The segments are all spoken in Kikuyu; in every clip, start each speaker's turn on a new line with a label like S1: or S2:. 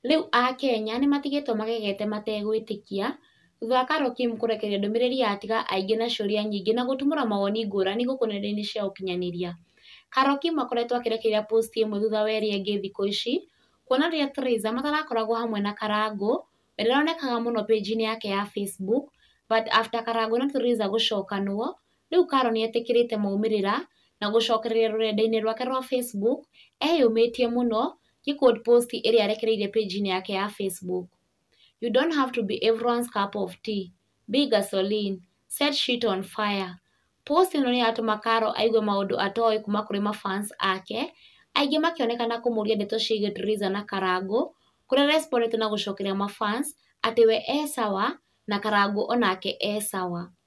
S1: Rĩu Akenya nĩ matigĩtwo magegete mategwĩtĩkia thutha wa Carol Kim kũrekereria ndũmĩrĩri ya Tiga Aingĩ na Ciũria Nyingĩ na gũtumũra mawoni ngũrani gũkũ nenda-inĩ cia ũkinyanĩria. Carol Kim akoretwo akĩrekereria post ĩmwe thutha wa ĩrĩa ĩngĩ thikũ ici, kuona rĩrĩa Theresa matarakoragwo hamwe na Karangũ, we ndaronekaga mũno page-inĩ yake ya Facebook, but after Karangũ na Theresa gũcokanwo, Rĩu Carol nĩ etĩkĩrĩte maumĩrĩra na gũcokereria rũrenda-inĩ rwake rwa Facebook eyũmĩtie mũno gĩ quote post ĩrĩa arekereirie page-inĩ yake ya Facebook. You don't have to be everyone's cup of tea, be gasoline, set shit on fire. Post ĩno nĩ yatũma Carol aigue maũndũ atoĩ kuma kũrĩ ma fans ake, aingĩ makĩonekana kũmũria ndeto ciĩgiĩ Teresa na Karangũ, kũrĩa respondete na gũcokeria ma fans atĩ we e sawa na Karangũ onake e sawa.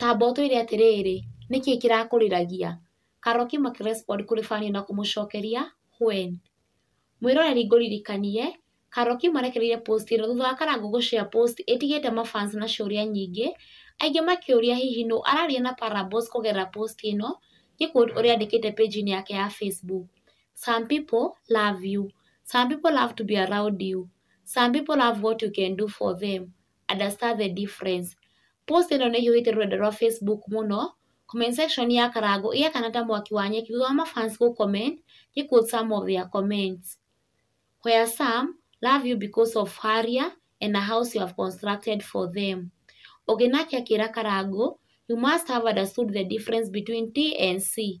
S1: Kaba ũtwĩre atĩrĩrĩ, nĩkĩ kĩrakũrĩragia? Karoki maki respond kũrĩ Fani na kũmũcokeria When. Mwĩroreri ngũririkanie, Karoki marekereire post ĩno thutha wa Karangũ gũ share post ĩtigĩte ma fans na ciũria nyingĩ, aingĩ makĩũria hihi nũ araria na Parables kũgerera post ĩno gĩ quote ũrĩa andĩkĩte page inĩ yake ya Facebook, Some people love you, some people love to be around you, some people love what you can do for them, understand the difference. Post ĩno nĩ ĩhiũhĩtie rũrenda rwa Facebook mũno, comment section ya Karangũ ĩgakana ta mwaki wa nyeki thutha wa ma fans gũ comment, nĩ quote some of their comments. Where some love you because of harrier and a house you have constructed for them. Ũngĩ nake akĩra Karangũ, you must have understood the difference between TNC,